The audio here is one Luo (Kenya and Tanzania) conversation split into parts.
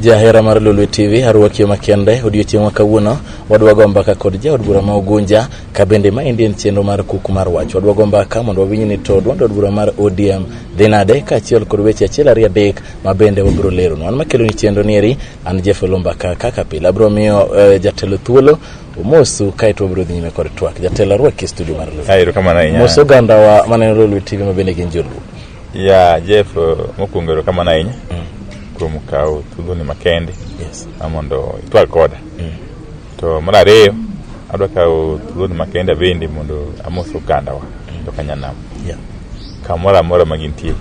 jahera mar lulu tv arwaki makende odiochieng' ma kawuono wadwago mbaka kod jaod bura ma ogunja ka bende ma endi en chenro mar kuk mar wach wadwago mbaka mondo wawinj ni to duond od bura mar odm dhi nade kaachiel kod weche achiel ariyo adek ma bende wabiro leronu an makeloni chenro ni eri an jefelo mbaka kaka pile abiro miyo eh, jatelo thuolo Omosu kae to wabiro dhi nyime kod twak. Jatelo arwaki e studio mar Luo. Ah, erokamano ahinya. Mos oganda wa maneno Lolwe TV ma bende gin joluo. Ya, Jeff, eh, mokwongo erokamano ahinya kuom kawo thuoloni makende Yes. ma mondo itwag koda. To mar ariyo, adwa kawo thuoloni makende bende mondo amos ogandawa to kanyanam Yeah. kamoro amora ma gintie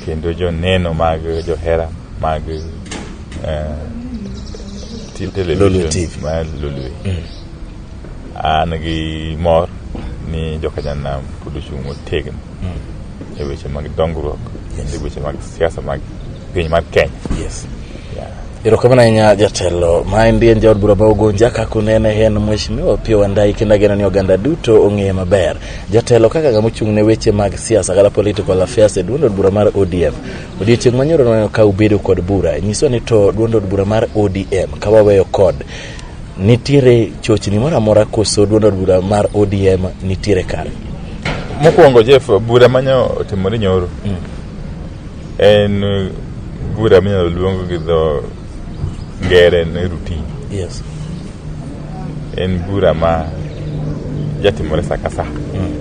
kendo joneno mag johera mag eh, ti- television Lolwe TV. mar Lolwe. An gi mor ni jokanyanam pod ochung' motegno e weche mag dongruok kendo e weche mag siasa mag piny mar Kenya. Yes. Yeah. erokamano ahinya jatelo ma en dien jaod bura ma ugunja kaka unene en mheshimiwa opio wandai kendo ageno ni oganda duto ong'eye maber jatelo kaka ng'ama ochung' ne weche mag siasa kata political affairs e duond od bura mar odm Odiochieng' ma nyoro nwaneno ka ubedo kod bura, nyiswa ni to duond od bura mar ODM ka waweyo kod nitiere chochni moro amora koso duond od bura mar ODM nitiere kare? Mokwongo Jeff, bura manyo otimore nyoro mm. en bura minyalo luong gi dho Ngere ne routine. Yes. En bura ma jatimore sa ka sa. Mm.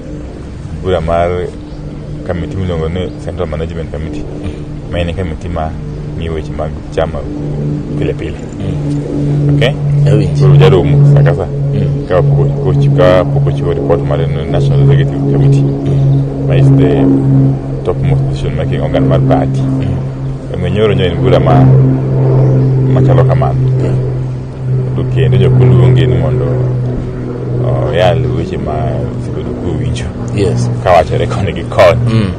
Bura mar kamiti miluongo ni Central Management Committee. Mm. Ma en kamiti ma ng'iyo weche mag chama pile pile. Mm. Okay? Koro jaromo sa ka sa. Mm. Ka pok ochiwo report mar National Executive Committee. Mm. Ma is the topmost decision making organ mar party. Mm. Omiyo nyoro nyo en bura ma machalo kamano. To kendo jok moluongi ni mondo oyal weche ma osebedo kowinjo Yes. kawachore koni gi koni. Mm.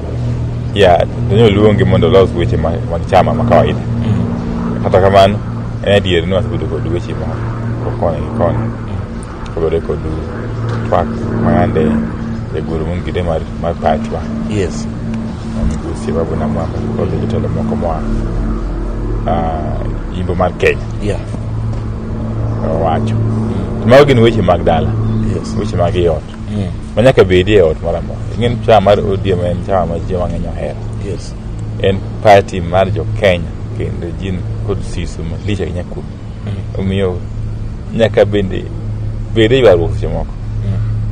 Ya, to nyo luongi mondo olos weche ma- mag chama ma kawaida. Kata kamano, en adier ni wasebedo kod weche ma koni gi koni. Kagore kod twak mayande e guru mun gide mar mar pachwa. Yes. Migosi babu na mwamba kod jotelo moko moa uh, imbo mar Kenya. Yeah. Owacho. Mm. Mago gin weche mag dala. Yes. Weche mag iot. Mm. Manyaka bedi e ot moro amora. Ing'en chama mar ODM en chama ma ji mang'eny ohero. Yes. En party mar jo Kenya kendo jin kod siso malich ahinya kuom omiyo nyaka bende bede ywaruok seche moko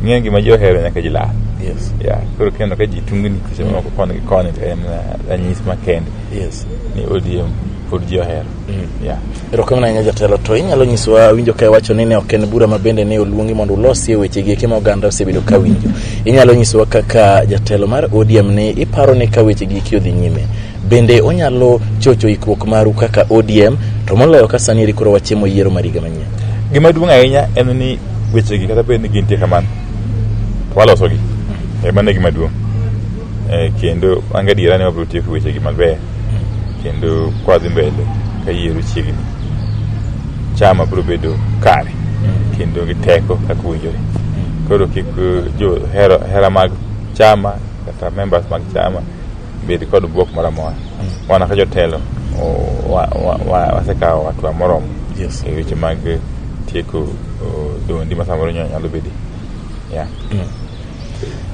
ing'eyo gima ji ohero nyaka ji lal Yes. ya koro kineno ka ji tungni seche moko koni gi koni to en eh, ranyisi makende Yes. ni odm pod ji ohero ya erokamano ahinya jatelo to inyalo nyisowa awinjo ka iwacho ni ne ok en bura ma bende ne oluongi mondo ulosie weche gi eki ma oganda osebedo ka winjo inyalo nyisowa kaka jatelo mar odm ni iparo ni ka weche gi eki odhi nyime Bende onyalo chocho ikruok maru kaka ODM to moloyo ka sani eri koro wachemo yiero mar higa manyien. Gima duong' ahinya en ni wechegi kata bed ni gintie kamano to walosogi. E mano e gima duong'. E, kendo an gadiera ni wabiro tieko wechegi maber kendo kwadhi mbele ka yiero chiegni. Chama biro bedo kare kendo gi teko kaka owinjore. Koro kik eh, jo hera, hera mag chama kata members mag chama bed kod bwok moro amora mm. wana ka jotelo wasekawo hatua moromo yes. e weche mag tieko dondi ma samoro nyalo bedi yeah. mm.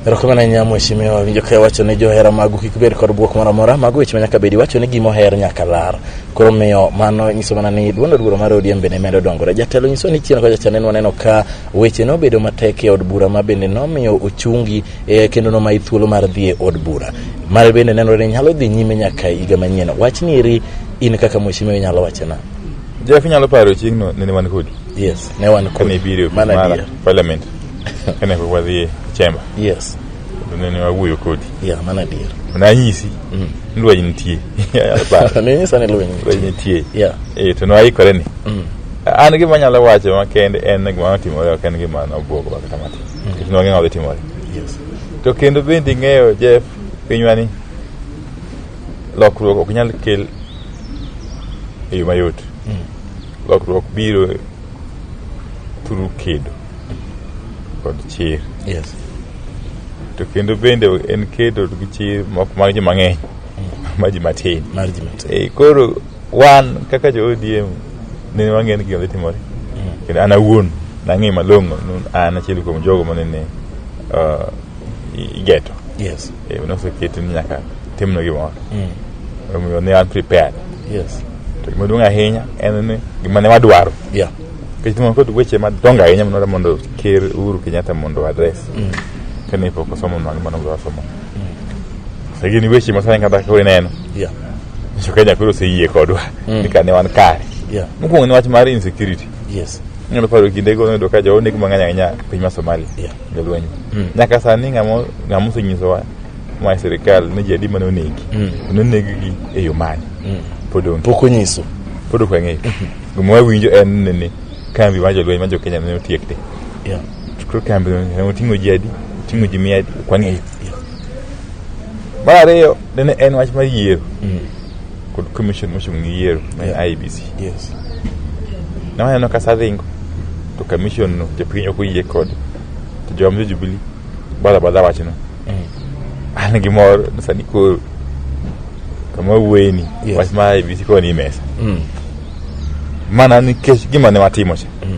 erokamano ahinya mheshimiwa winjo ka iwacho ni johera magu kik bed kod bwok moro amora mago weche ma nyaka bedi iwacho ni gima oher nyaka lar koro miyo mano nyiso mana ni duond od bura mar odm bende medo dongore jatelo nyiso ni chien kocha cha neno waneno ka weche nobedo matek e od bura ma bende nomiyo ochungi e kendo nomayi thuolo mar dhi e od bura mare bende nenore ni nyalo dhi nyime nyaka higa manyien wach ni eri in kaka mheshimiwa inyalo wache na jeff inyalo paro chieng'no nene wan kodi yes ne wan kodi kane ibiro mana mara adier parliament kane pok wadhi e chamber yes to nene wawuoyo kodi ya mana adier nanyisi Mm. ni lweny nitie Inyalo paro. ninyisa ni lweny lweny nitie ya Eh, to nwaikore ni Mm. an gima anyalo wacho makende en gima notimore ok en gima nobwogowa kata matin Nikech nwang'e ng'ama dhi timore. Yes. To kendo bende ing'eyo Jeff pinywa ni lokruok ok nyal kel e yo mayot. Lokruok biro through kedo kod chir. Yes. To kendo bende en kedo gi chir ma ok mag ji mang'eny, ma ji matin. Mar ji matin. Eh, koro wan kaka jo ODM ne wang'eyo ni gima dhi timore kendo an awuon nang'eyo malong'o ni an achiel kuom jogo manene uh, i- igeto Yes. Eh, noseketi ni nyaka timno gimoro Mm. omiyo ne an prepared Yes. to gima duong' ahinya en ni gima ne wadwaro Yeah. nikech timo kod weche madongo ahinya manore mondo ker Uhuru Kenyatta mondo adres kane pok osomo nwa gima nogo osomo Sasa gini weche masani kata kore neno. Yeah. Nyiso Kenya koro oseyie kodwa Mm. ni kane wan kare. Yeah. Mokwongo ni wach mar insecurity. Yes. Inyalo paro kinde go noyudo ka jogo negi mang'eny ahinya e piny mar Somalia. Yeah. Jolweny. Mm. Nyaka sani ng'amo ng'amo osenyisowa ma e sirikal ni ji adi mane onegi. Mm. Nonegi gi e yo mane. Mm. Pod onge. Pok onyiso. Pod ok wang'eyo. Gima wawinjo en ni kambi mar jolweny ma jo Kenya ne otiek te. Yeah. Chukru kambi oting'o ji adi? Oting'o ji mia adi? Ok wang'eyo. Mar ariyo nene en wach mar yiero mm. kod commission mochung' gi yiero ma IBC. Yes. Ne waneno ka sadhingo to commission no jopiny ok oyie kod to joma Jubilee bala bala wachno. Mm. An gi mor sani koro kama wuoyeni yes. wach mar IBC koni mesa. Mm. Mana nikech gima ne watimo cha. Mm.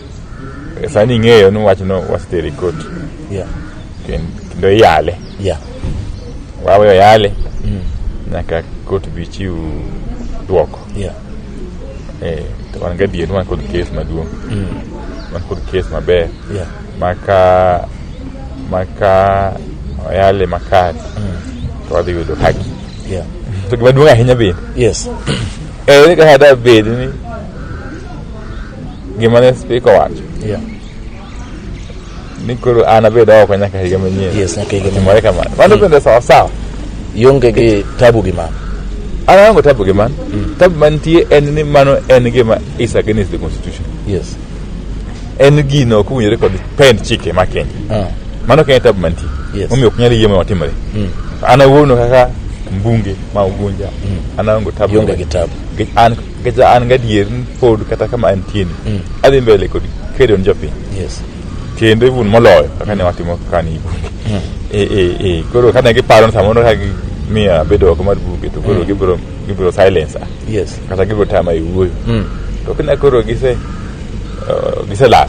Eh, sani ing'eyo ni wachno wasetere e kot yeah. kendo iyale yeah. waweyo yale mm. nyaka kot bi chiw dwoko yeah. eh, wan gadier ni wan kod kes maduong' mm. wan kod kes maber yeah. maka maka oyale makare mm. to wadhi yudo haki yeah. to gimaduong' ahinya bende yes. eh, kaka da bed ni Gima ne spika owacho Yeah. ni koro an abed oko nyaka higa manyien. Yes, nyaka higa Timore kamano. Mano bende sawa sawa. Ionge gi tabu gi mano. An aonge tabu gi mano. Tabu mantie en ni mano en gima is against the constitution. Yes. En gino ok owinjore kod pend chike ma Kenya. Ah. Mano ok en tabu mantie. Yes. Omiyo ok nyal yie mondo otimre. Mm. An awuono kaka mbunge ma Ugunja. An aonge tabu. Ionge gi tabu. Nikech an Gaja an gadier ni pod kata kama antie ni Mm. adhi mbele kod kedo ni jopiny Yes. kendo even moloyo kaka ne watimo kani bunge Mm. e e e koro kane giparo ni samoro ka gimiya abedo oko mar bunge to koro Mm. gibiro gibiro silence ah. Yes. kata gibiro tama e wuoyo Mm. to kina koro gise eh, giselal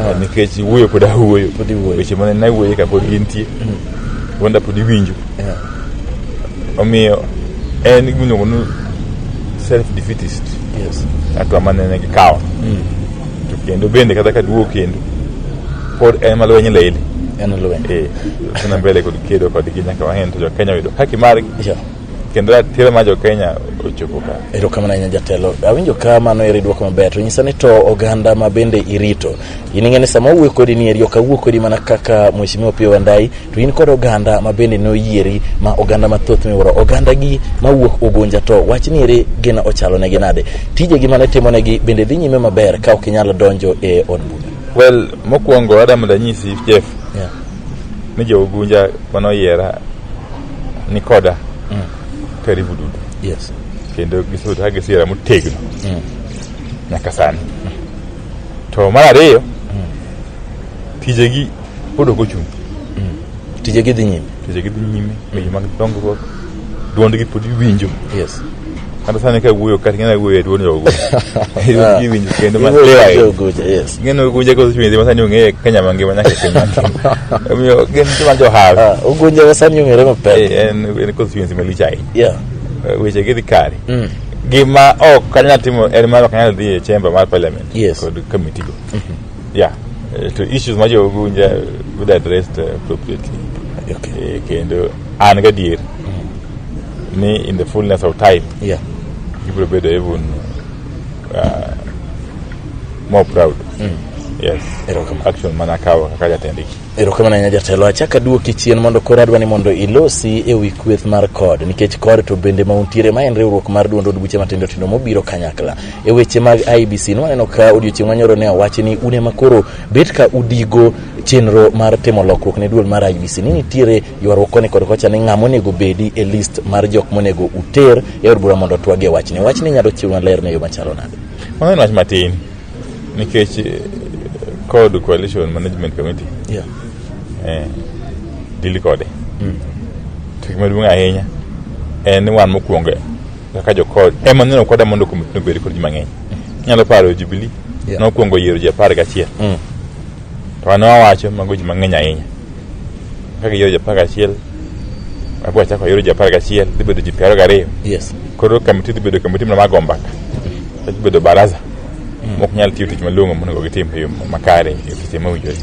eh, nikech wuoyo pod awuoyo Pod iwuoyo. weche mane nawuoye ka pod gintie wanda pod iwinjo Yeah. omiyo en gimiluongo ni self defeatist Yes. hatua mane ne gikawo to kendo bende kata ka duogo kendo pod en malweny lele En lweny. eh tuna mbele kod kedo kodgi nyaka wahen to jokenya oyudo haki margi Yeah. kendo ratiro ma jokenya ochopo ka erokamano ahinya jatelo awinjo ka mano eri dwoko maber to nyisa ni to oganda ma bende irito in ing'e ni sama owuoyo kodi ni eri ok awuo kodi mana kaka mheshimiwa opiyo wandai to in kod oganda ma bende noyieri ma oganda mathoth miwuoro oganda gi mawuok ugunja to wach ni eri gin ochalo negi nade tijegi mane timo negi bende dhi nyime maber ka ok inyalo donjo e od bura well mokwongo adamu danyisi jeff yeah. ni jougunja manoyiera nikoda karibu duto Yes. kendo gisebedo ka gisiera motegno nyaka sani to mar ariyo tijegi pod ok ochung' Tije gidhi nyime. tijegi dhi nyime weche mag dongruok dwondgi pod iwinjo Yes. Kata sani ka wuoyo kata ng'e wuoyo e dwon jogo. Ah. Iwinjo kendo ma Iwuoyo lewa. jo Oguja, yes. Ng'e no gunje ko chwenzi masani ong'e Kenya mangima nyaka e piny mangima. Omiyo gin joma johal. Ah, Ogunja wasani ong'ere mapek. Eh, En en constituency malich ahinya. Yeah. Eh, Weche gi dhi kare. Mm. Gima ok anyal timo en mar ok anyal dhi e chamber mar parliament Yes. kod committee go. Yeah, eh, to issues ma jogo winja would addressed eh, appropriately. Okay. Eh, Kendo an gadier ni in the fullness of time Yeah. gibiro bedo even uh, more proud. Yes. Erokamano. Action mana kawo kaka jatendgi. Erokamano ahinya jatelo. Achak aduoki chien mondo koro adwa ni mondo ilosi e wi kweth mar kod nikech kod to bende ma untiere ma en riwruok mar duond od buche matindo tindo mobiro kanyakla e weche mag IBC nwaneno ka odiochieng' manyoro ne owachi ni une ma koro bet ka udigo chenro mar timo lokruok ne duol mar IBC ni nitiere ywaruok koni kod kocha ni ng'ama onego bedi e list mar jok monego uter e od bura mondo otwagi e wachni. Wachni inyalo chiw maler ne yo machalo nade? Mano en wach matin. nikech eh, kod coalition management committee Yeah. eh, dili kode to gima duong' ahinya en ni wan mokwongo kaka jokod ema neno koda mondo komiti nobed kod ji mang'eny inyalo paro jubilee Yeah. nokwongo yiero ji apar gachiel To an awacho mago ji mang'eny ahinya. Ka giyoro ji apar gachiel, abiro achako ayoro ji apar gachiel, dhi bedo ji piero gariyo. Yes. Koro kamiti dhi bedo kamiti mana mag ombaka. Dhi bedo baraza mok nyal tiyo tich malong'o monego gitim e yo makare e seche mowinjore.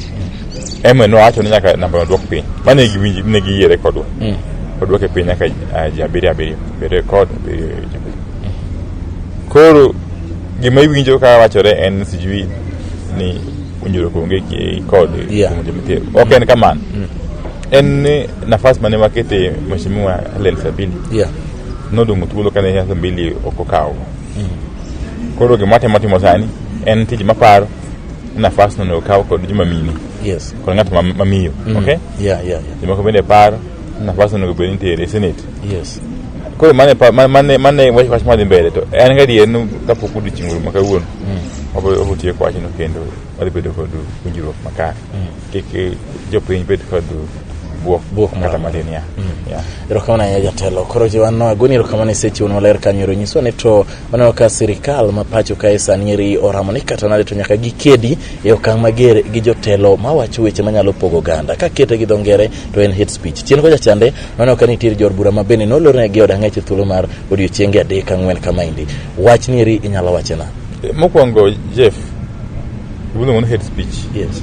Ema nowacho ni nyaka namba odwok piny. Mane giwinji ne giyiere kodwa. Mm. Odwoke piny nyaka ah, ji abiriyo abiriyo. Abiriyo kod abiriyo ji abiriyo. Koro gima iwinjo ka wachore en sijui ni puonjruok onge ki- kod Yeah. puonjo mitiyo ok en kamano en ni nafas mane wakete mheshimiwa Helen Sabini Yeah. nodong' thuolo kane Helen Sabini ok okawo koro gima watemo timo sani en tich maparo nafas no ne okaw kod joma mine Yes. kod ng'at ma- mamiyo okay Yeah, yeah, yeah. jomoko bende paro na pas onego bed nitiere senate yes koro mane pa- ma- mane mane wach wach madhi mbele to an gadier ni kapok odiochieng' rum ma kawuono wabo- wabotieko wachno kendo wadhi bedo kod winjruok makare kik eh, jopiny bed kod buok Buok moro kata amora. matin ya ya erokamano ahinya jatelo koro jiwanno agoni erokamano isechiwon maler kanyo ero nyiswa ni to waneno ka sirikal ma pacho kae sani eri oramo ni kata nade to nyaka gikedi e okang' mager gi jotelo mawacho weche manyalo pogo oganda ka kete gi dho ngere to en hate speech chien kocha chande noneno ka nitiere jor bura ma bende nolorne gi od ang'ech e thuolo mar odiochienge adek ang'wen kamaendi wach nieri inyalo wachena mokwongo jeff iluongo ni hate speech yes.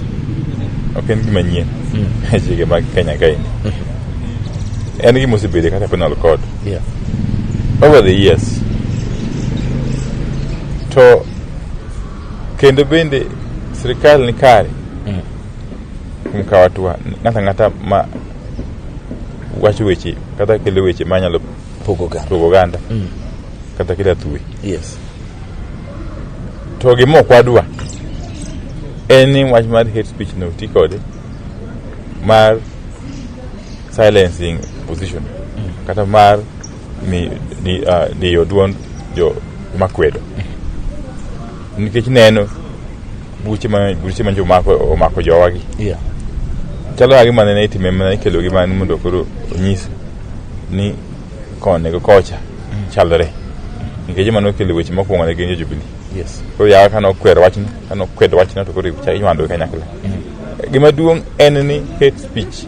ok en gima nyien e chike mag kenya kaendi en gima osebede kata penal code yeah. over the years to kendo bende sirikal ni kare mm. kuom kawo atua ng'ato ang'ata ma wacho weche kata kelo weche ma nyalo pogo oganda mm. kata kelo athuwe yes. to gima ok wadwa en ni wach mar hate speech no ti kode mar silencing position mm. kata mar ni, ni, uh, diyo duond jo makwedo nikech neno buche ma buche ma jomako omako jowagi Yeah. chalo agi mana ne itime mana ikelogi mana mondo koro onyis ni koni gi kocha chalre nikech mano okelo weche mokwongo ne gin jo jubilee Yes. koro yawa kane okwer wachno kane okwedo wachno to koro ichwandogi kanyakla gima duong' en ni hate speech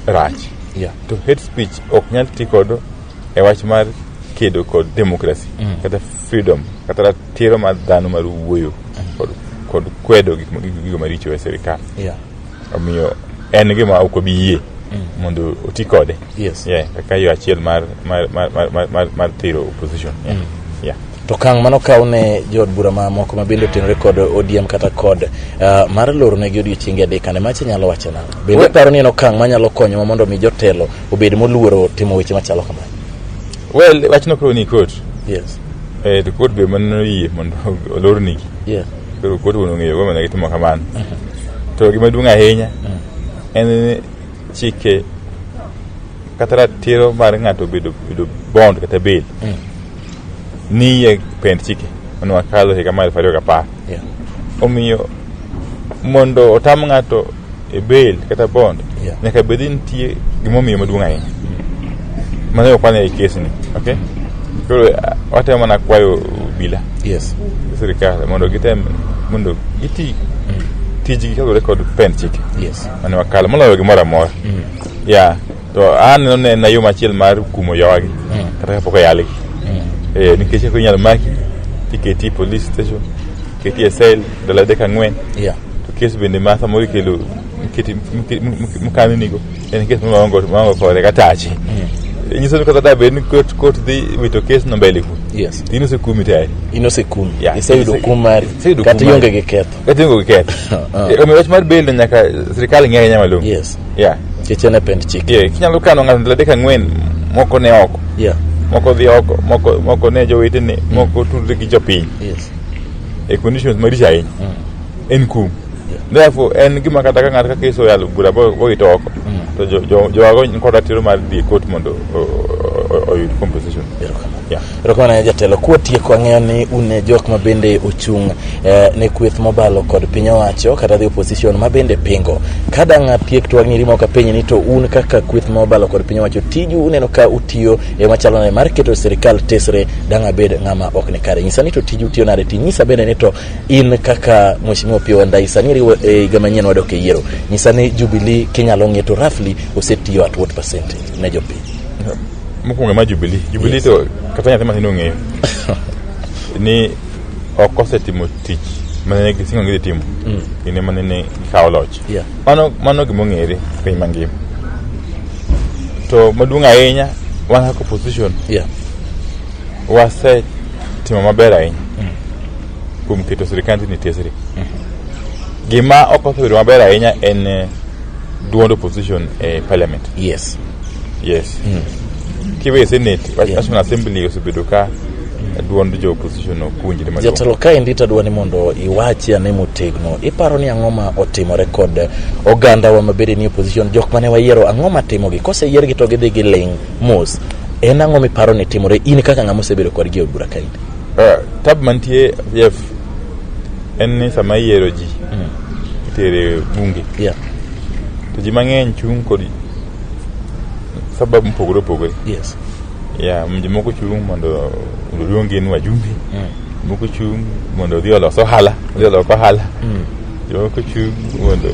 rach yeah. to hate speech ok nyal ti kodo e wach mar kedo kod demokrasi mm. kata freedom kata ratiro mar dhano mar wuoyo mm. kod, kod kwedo gigo maricho e sirikal yeah. omiyo en gima ok obi yie mm. mondo oti kode yes. yeah, kaka yo achiel mar, mar, mar, mar, mar, mar thiro opposition yeah. Mm. yeah. To kang' mano kaw ne jood bura ma moko ma bende otenore kod ODM kata kod uh, mar loro negi odiochienge adek ane machi nyalo wacho nang'o? Bende We- paro ni en okang' manyalo konyowa mondo mi jotelo obed moluoro timo weche machalo kamano. well wachno koro ni kot Yes. eh, to kot be mano yie mondo olor nigi Yes. koro kot wuon ong'eyo go mana gitimo kamano to gima duong' ahinya en ni chike kata ratiro mar ng'ato bedo bedo bond kata bail ni e pend chike mane wakalo higa mar elfu ariyo gapar Yeah. omiyo mondo otam ng'ato e bail kata bond Yeah. nyaka bed ni nitie gimomiyo maduong' ahinya mano ok wane e kesni okay koro eh, watemo mana kwayo obila Yes. gi sirikal mondo gitem mondo giti tijgi kaluwore kod pend chike Yes. mane wakalo moloyo gimoro amora ya to aneno ne na yo machiel mar kumo jowagi Mm. kata kapok oyalgi Mm. Eh, nikech eko inyalo maki tiketi e police station keti e cell ndalo adek ang'wen Yeah. to kes bende ma samoro ikelo miketi- mike- mike- mukaninigo en kes maongo maongo kode kata ache nyiso ni kata da bed ni kot kot dhi wito kes no mbele ku Yes. tino se kumi tayari Inosekumi. Yeah. Iseyudo kum mari. Iseyudo kum Kata mari. ionge gi ketho. Katiyo go ket. Ah. Omi wach mar bail nyaka sirkal ng'ere nyama lum. Yes. Yeah. Kech en pend chik. Yeah, kinyalo kano ng'ato ndalo adek ang'wen moko ne oko. Yeah. Moko dhi oko, moko moko ne jowetene, mm. moko tudre gi jopiny. Yes. E conditions maricho ahinya. Mm. En kum. Therefore, en gima kata ka ng'ato ka keso yalo bura bo ito oko. Mm. To jo jo jowago nkoda tiro mar dhi e court mondo oyud compensation. Yeah. Erokamano ahinya jatelo. Kwatieko ang'eyo ni un e jok ma bende ochung' eh, ne kweth mobalo kod piny owacho kata the opposition ma bende pingo. Ka dang' atiek to ang'eri moko apenji ni to un kaka kweth mobalo kod piny owacho tiju uneno ka utiyo e machalo nade mar keto sirikal tesre dang' abed ng'ama ok ni kare. Nyisa ni to tiju utiyo nade ti nyisa bende ni to in kaka Mheshimiwa Opiyo Wandayi sani iriwo e higa manyien wadok e yiero. Nyisa ni Jubilee kinyalo ng'e to roughly osetiyo at what percentage ne jopiny. Mokwongo ma Jubilee. Jubilee Yes. to kata nyathi matin ong'eyo ni ok osetimo tich mane gisingo gidhi timo kinde mane ne gikawo loch. Yeah. Mano mano gima ong'ere e piny mangima. To maduong' ahinya wan kaka opposition Yeah. wasetimo maber ahinya kuom keto sirikand ni tesri. Gima ok osebedo maber ahinya en eh, duond opposition e parliament. Yes. Yes. Mm. Kiwe senate, yeah. National Assembly osebedo ka duond jo opposition opuonjre maduong'. Jatelo kaendi to adwa ni mondo iwachi ane motegno, iparo ni ang'o ma otimore kod oganda wa mabede ni opposition, jok mane wayiero ang'o ma timogi? Koseyiergi to gidhi giling' mos. En ang'o miparo ni timore in kaka ng'ama osebedo kodgi e od bura kaendi? Uh, tab mantie yef en ni sama iyiero ji mm. itere bunge yeah. to ji mang'eny chung' kod sababu mopogore opogore yes ya jomoko chung' mondo oluong gin wajumbe mm. moko chung' mondo odhi olos ohala odhi olok ohala mm. jomoko chung' mondo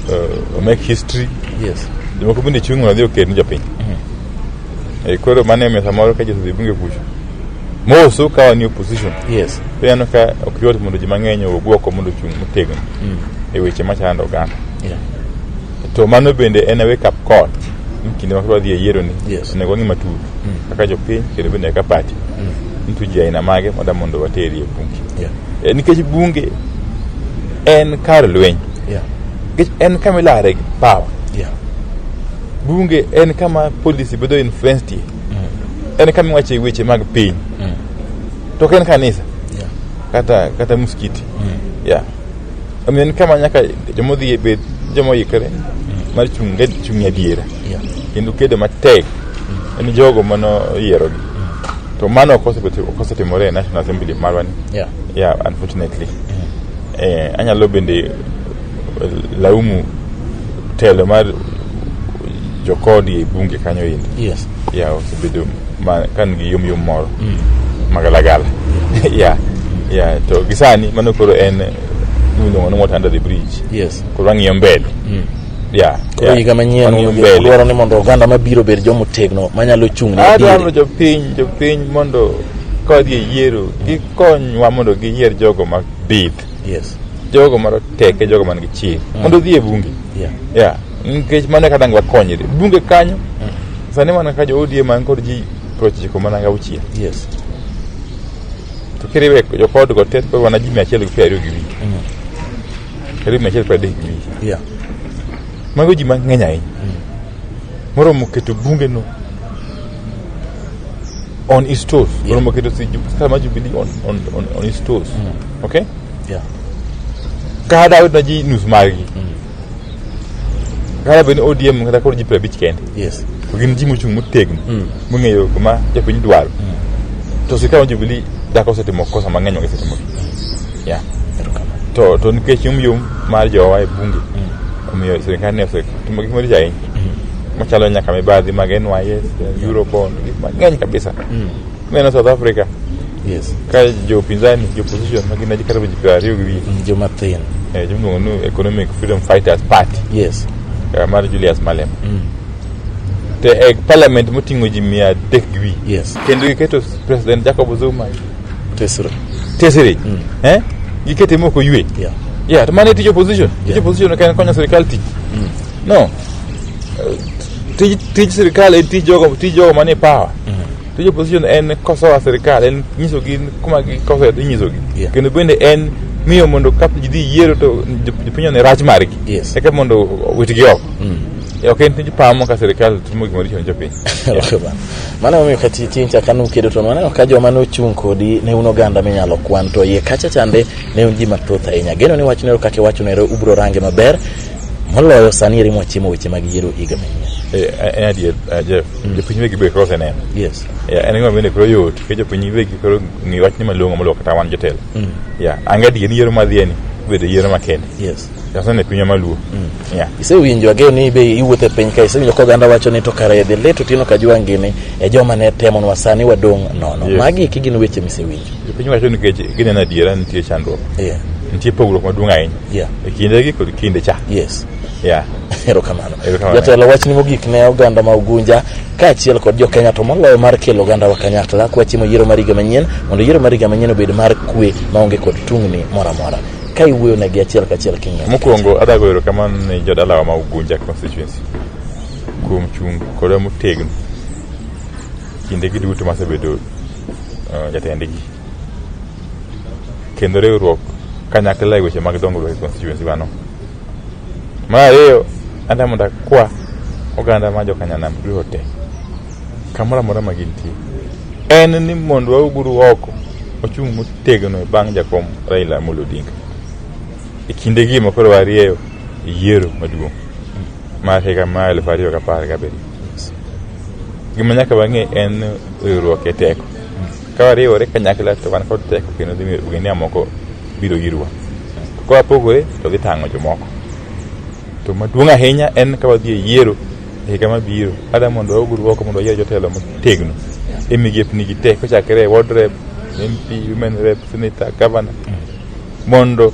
uh, omek history yes jomoko bende chung' mondo odhi okedni jopiny mm. e, koro mano emiyo samoro ka josudhi bunge kucho moso ka wan e opposition yes to ineno ka ok yot mondo ji mang'eny owuog oko mondo ochung' motegno mm. e weche machando oganda yeah. to mano bende en a wake up call ni kinde ma koro dhi e yiero ni Yes. onego wang'i matut Mm. kaka jopiny kendo bende kaka pati Mm. nitu ji aina mage moda mondo wateri e bunge yeah Eh, nikech bunge en kar lweny yeah nikech en kama ilare gi power yeah bunge en kama policy bedo influenced en kama iwache weche mag piny to ok en kanisa Yeah. kata kata msikiti yeah. Omiyo en kama nyaka joma odhi e bed joma oikre mar chung' e- chung' e adiera Yeah. kendo kedo matek en jogo mano yierogi to mano ok osebet- ok osetimore e national assembly marwani Yeah. yeah unfortunately eh, anyalo bende laumu telo mar jokodi e bunge kanyo indi yes ya osebedo ma- ka nigi yomyom moro magalagala ya ya to gisani mano koro en miluongo ni water under the bridge yes koro wang'iyo mbele ya koro ya, higa manyien wang'iyo mbele dwaro ni mondo oganda mabiro obed jomotegno manyalo chung' ne adwaro adieri jopiny jopiny mondo kodhi e yiero gikonywa mondo giyier jogo ma bith Yes. jogo maroteke jogo man gi chir mondo odhi e bunge Yeah. yeah. nikech mano kata ngi wakonyre bunge kanyo sani mana ka jo odm man kod ji prochiko mana gi auchiel Yes. to kiriwe jokod go tet kod wana ji mia achiel gi piero ariyo gi wich karibu mia achiel gi piero adek gi wich Yeah. mago ji mang'eny ahinya moromo keto bunge no on his toes Yeah. Bwana Mwaketo si ju- kama Jubilee on, on, on, on his toes okay Yeah. kada wetu naji nus magi kada beni ODM kata koro ji piero abich kende Yes. to gin ji mochung' motegno mong'eyo kuma jopiny dwaro to sirikal mar Jubilee dako osetimo kosa mang'eny ogisetimo yeah. to to nikech yomyom mar jowa e bunge omiyo sirikal ne osetimo gik maricho ahinya machalo nyaka mibadhi mag NYS, Eurobond, gik mang'eny kabisa. Neno South Africa Yes. ka jopinzani jopposition ma gin aji kata ji piero ariyo gi wiye Mm, Joma thin. eh, jimiluongo ni Economic Freedom Fighters Party Yes. eh, mar Julius Malema te e parliament moting'o ji mia adek gi wiye Yes. kendo giketo president Jacob Zuma Tesra. tesere eh? gikete moko ywe Yeah. yeah, to mano e tij opposition tij Yeah. opposition ok en konyo sirikal tich No. Eh, Tij, tij sirkal en tij jogo, tij jogo manie power. Tij opposition en kosoa sirkal, en nyisogi kuma gikosoe to inyisogi. Yeah. Kendo bende en miyo mondo ka ji dhi yiero to jop- jopiny one rach margi. Yes. Eka mondo witgi oko. Ok en tij power mo ka sirkal timo gima richo ne jopiny. Okay, bana. mano emomiyo ka ti- tincha ka nukedo to maneno ka joma nochung' kodi ne un oganda minyalo kwan to iye kacha chande ne un ji mathoth ahinya geno ni wachno ero kaka iwachonero ubro range maber moloyo sani eri mwachimo weche mag yiero higa manyien eh, eh, en adier eh, jeff mm. jopiny wegi be koro oseneno yes ya en gima bende koro yot ke jopiny wegi koro ng'i wachni malong'o moloyo kata wan jotelo mm. ya an gadier ni yiero madhieni bedo yiero makende yes jasene pinywa maluo mm. ya isewinjo ageo ni be iwuotho e piny ka isewinjo ka oganda wacho ni to kare dhi lit otieno ka jwangini e joma ne temonwa sani wadong' nono magi kigin weche misewinjo Jopiny wacho ni nikech gineno adiera nitie chandruok. Yeah. Nitie pogruok maduong' ahinya. Yeah. E kindegi kod kinde cha. Yes. Yeah. Erokamano. Erokamano. Jatelo wachni mogik ne oganda ma Ugunja kaachiel kod jo Kenya to moloyo mar kelo oganda wa kanyakla kwa chimo yiero mar higa manyien mondo yiero mar higa manyien obed mar kwe maonge kod tungni moro amora. Ka iwuoyo negi achiel kachiel king'e. Mokwongo adwa goyo erokamano ne jodalawa ma Ugunja constituency kuom chung' kodwa motegno kindegi duto masebedo uh, jatendgi kendo riwruok kanyakla e weche mag dongruok e constituency wano mar ariyo anda mondo akwa oganda ma jokanyanam duto te kamoro amora ma gintie en ni mondo wauguru oko ochung' motegno e bang' jakom raila amolo odinga e kinde gi ma koro warieyo yiero maduong' mar higa ma elfu ariyo gapar gabiriyo gima nyaka wang'e en riwruok e teko ka wariwore kanyakla to wan kod teko kendo dhi miyo ogendni moko biro irwa ka wapogore to dhi tang'o jomoko to maduong' ahinya en ka wadhi e yiero e higa mabiro ada mondo waug rwoko mondo wayier jotelo motegno e migepni gi te kochakre e ward rep mp women rep senator governor mondo